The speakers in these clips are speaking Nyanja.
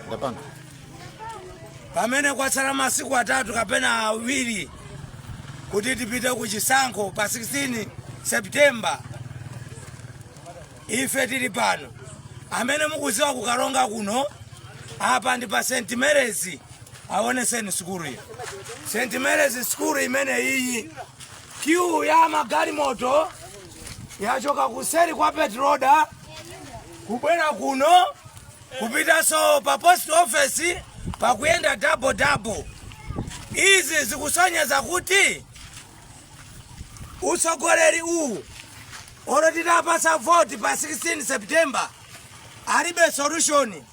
ndapanga pamene kwatsala masiku atatu kapena awiri kuti tipite ku chisankho pa 16 septemba ife tili pano amene mukudziwa kukaronga kuno apa ndi pa st marys awoneseni sukulu iyo st marys sukulu imene iyi kiu ya magalimoto yachoka kuseri kwa petroda kubwera kuno kupitanso pa post office pakuyenda double double. Izi zikusonyeza kuti utsogoleri uwu olo titapatsa vote pa 16 September alibe solution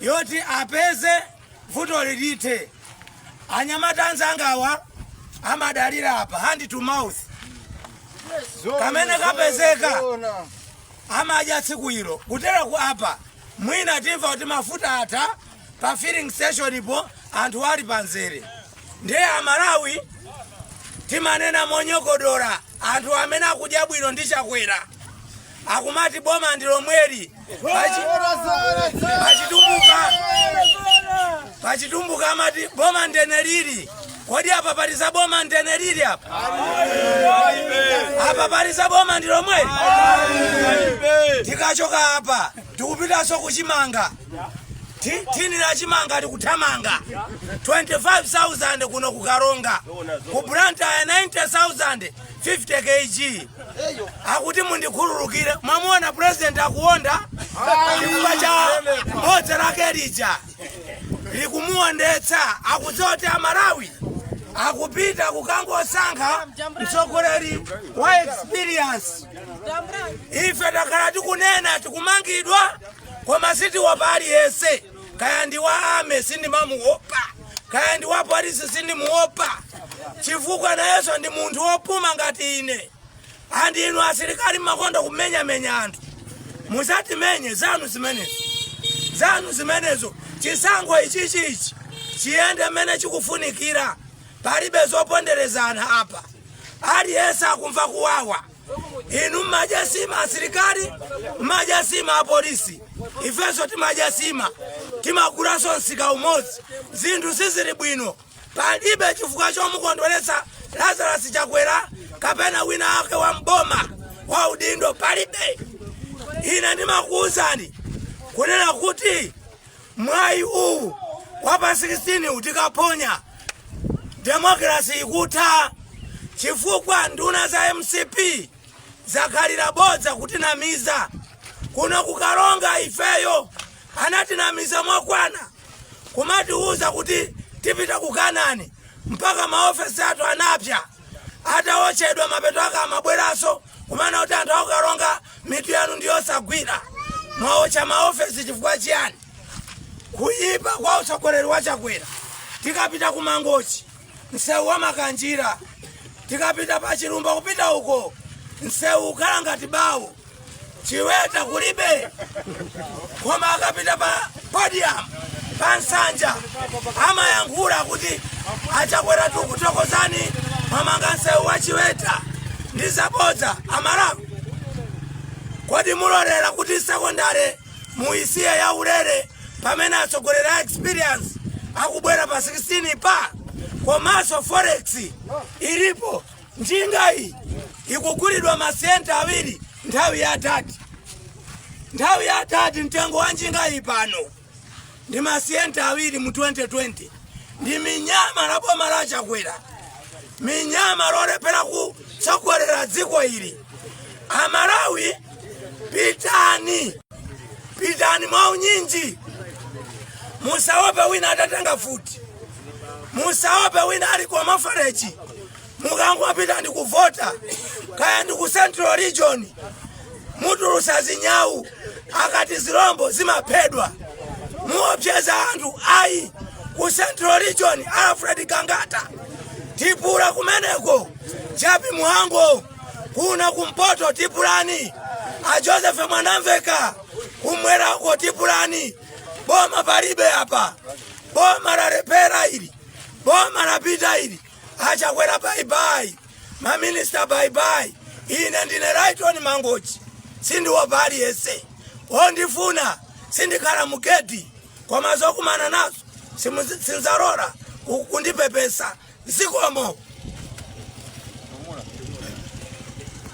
yoti apeze vutoli lithe. Anyamata anzangawa amadalira apa hand to mouth kamene kapezeka amadya tsiku ilo. Kuteroku apa mwina timva kuti mafuta atha pa filling stationpo anthu ali pa nzere. Ndiye Amalawi timanena monyogodola anthu amene akudya bwino ndi Chakwera akumati boma ndi lomweli Pachi- pachitumbuka pachitumbuka amati boma ndene lili Kodi apa pali za boma ndene lili apa? Apa pali za boma ndi lomweli? Tikachoka apa tikupitanso kuchimanga Ti- thini la chimanga likuthamanga 25,000 kuno ku karonga ku Blantyre 90,000 50 kg akuti mundikhululukire mwamuona president akuonda chifukwa cha bodza lake lija likumuondetsa akudziwa kuti amalawi akupita kukangosankha mtsogoleri wa experience ife takhala tikunena tikumangidwa koma sitiopa aliyense kaya ndi wa army sindimamuopa kaya ndi wa polisi sindimuopa chifukwa nayenso ndi munthu wopuma ngati ine and inu asilikali mumakonda kumenyamenya anthu mudzatimenye zanu zimenezo zanu zimenezo chisankho ichichi ichi chiyende mmene chikufunikira palibe zoponderezana apa aliyense akumva kuwawa inu mmadya nsima asilikali mmadya nsima apolisi ifenso timadya nsima timagulanso msika umodzi zinthu sizili bwino Palibe chifukwa chomukondweretsa Lazarus Chakwera kapena wina wake wa mboma wa udindo palibe. Ine ndimakuwuzani kunena kuti mwayi uwu wa pa 16 tikauphonya demokrasi ikutha chifukwa nduna za mcp zakhalira bodza kutinamiza kuno ku Karonga ifeyo anatinamiza mokwana kumatiuza kuti tipita ku kanani mpaka maofesi athu anapya ataochedwa mapeto ake amabweraso kumanena kuti anthu a ku Karonga mitu yanu ndiyosagwira mwaocha maofesi chifukwa chiyani kuyipa kwa utsogoleri wa chakwera tikapita ku mangochi msewu wa makanjira tikapita pa chilumba kupita uko msewu ukhala ngati bawo chiweta kulibe koma akapita pa podium pa nsanja amayankhula kuti achakwera tukuthokozani mwamanga nsewu wa chiweta ndi zabodza amalawi kodi mulolera kuti sekondare muisiya ya ulere pamene atsogoleri a experience akubwera pa 16 pa komanso forex ilipo njingayi ikugulidwa masiyente awiri nthawi ya tate nthawi ya tate mtengo wa njingayi pano ndi masiyente awiri mu 2020 ndi minyama la boma la chakwera minyama lolephera kutsogolera dziko ili amalawi pitani pitani mwaunyinji musaope wina atatenga futi musaope wina ali kwa mafarechi mukangopita ndi kuvota kaya ndi ku central region mutulusa zinyawu akati zilombo zimaphedwa muopseza anthu ayi ku central region alfred gangata tipula kumeneko Jappie Mhango kuna kumpoto tipulani a joseph Mwanamvekha kumwerako tipulani boma palibe apa boma lalephera ili boma lapita ili achakwera baibai maminista baibai ine ndine Lyton mangochi sindiopa aliyese ondifuna sindikhala mugeti koma zokumana nazo simu- sinzalola ku- kundipepesa zikomo